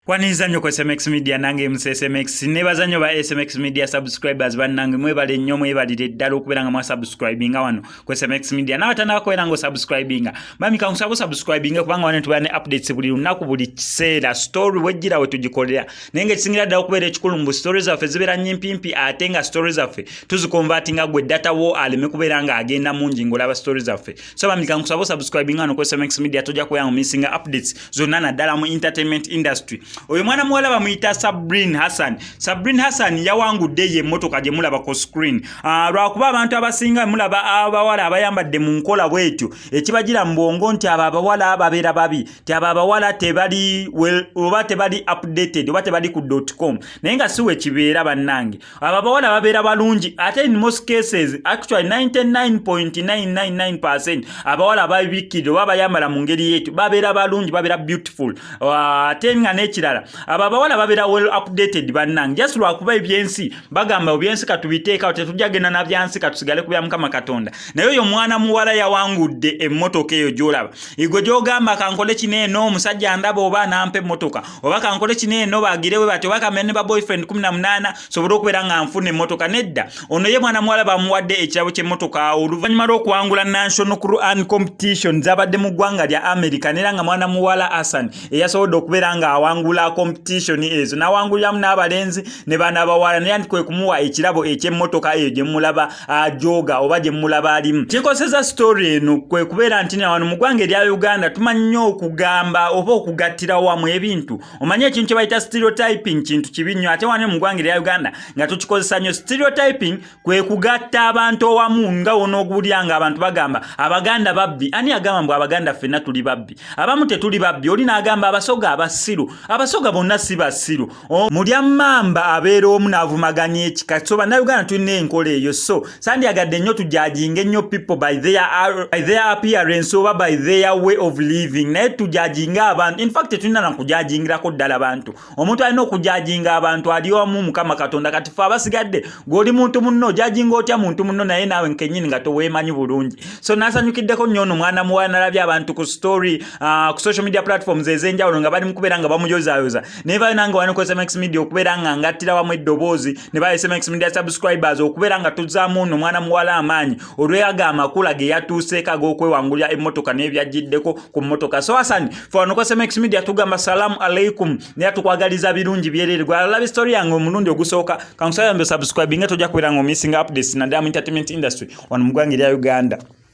kwaniriza nnyo ku smx media nange mc smx nebaza nnyo ba smx media subscribers bannange mwebale nnyo mwebalire ddala okubeera nga mwasubscribinga wano ku SMX Media nawe tanakoera ngo subscribinga mami kankusaba subscribinga kubanga wane tubane updates buli lunaku buli kiseera story wejjira we tugikolera naye nga ekisingira ddala okubeera ekikulu mu stories zaffe zibeera nyimpimpi ate nga stories zaffe tuzikonvatinga gwe data wo aleme kubeera nga agenda mungi ng'olaba stories zaffe so mami kankusaba subscribinga no ku SMX Media tojja kubeera ngo missinga updates zonna naddala mu entertainment industry oyo mwana muwala bamuyita sabrin hassan sabrin hassan yawangudde ye emmotoka gye mulaba ku screen ah, lwakuba abantu abasinga mulaba abawala abayambadde mu nkola bwetyo ekibagira mu bwongo nti abo abawala babeera babi ti abo abawala tebali oba tebali updated oba tebali ku com naye nga siwe kibeera bannange ababawala babeera balungi ate in most cases actually 99.999 abawala ababikkirira oba bayambala mu ngeri yetu babeera balungi babeera beautiful ah, ate nga n'ekirala abo abawala babeera well updated bannange just lwakuba ebyensi bagamba ebyensi katubiteekawo tetujja genda na byansi katusigale ku bya mukama katonda naye oyo omwana muwala yawangudde emmotoka eyo gyolaba igwe gyogamba kankole kino eno omusajja ndaba oba nampa emmotoka oba kankole kino eno bagire bwe batyo bakamene ba boyfriend kumi na munaana sobole okubeera nga nfuna emmotoka nedda ono ye mwana muwala bamuwadde ekirabo ky'emmotoka oluvannyuma lw'okuwangula national quran competition zabadde mu ggwanga lya america neera nga mwana muwala asan eyasobodde okubeera nga awangula competition ezo n'awanguliramu n'abalenzi ne baana bawala neera nti kwe kumuwa ekirabo eky'emmotoka eyo gye mumulaba ajooga oba gye mulaba alimu kikoseza sitoori eno kwe kubeera nti nawano mu ggwanga erya uganda tumanyi nnyo okugamba oba okugattira wamu ebintu omanyi ekintu kye bayita stereotyping kintu kibi nnyo ate wano mu ggwanga erya uganda nga tukikozesa nnyo stereotyping kwe kugatta abantu owamu nga wonoogulya nga abantu bagamba abaganda babbi ani agamba mbu abaganda ffenna tuli babbi abamu tetuli babbi oli n'agamba abasoga abasiru abasoga bonna si basiru mulya mamba abeera omu n'avumaganya ekika so bannayuganda tulina enkola eyo so sandyagadde nnyo tujajinga ennyo people by their, by their appearance oba by their way of living naye tujajinga abantu infact tetulina nakujajingirako ddala bantu omuntu alina okujajinga abantu ali omu mukama katonda kati fe abasigadde gweoli muntu munno ojajinga otya muntu munno naye naawe nkenyini nga toweemanyi bulungi so nasanyukiddeko nnyo ono mwana muwala nalabye abantu ku story uh, ku social media platforms ez'enjawulo nga bali mu kubeera nga bamuyozayoza naye bayo nange wani ku sms media okubeera nga ngattira wamu eddoboozi ne bayo sms media subscribers okubeera nga tuzaamu ono omwana muwala amaanyi olweyago amakula ge yatuuseeko ag'okwewangulira emmotoka n'ebyajjiddeko ku mmotoka so asani fe wano ku sms media tugamba salaamu aleikum naye tukwagaliza birungi byerere gwe alalabe story yange omulundi ogusooka kankusaba yambe subscribinga tojja kubeera nga omissinga updates naddala mu entertainment industry wano mu ggwanga erya uganda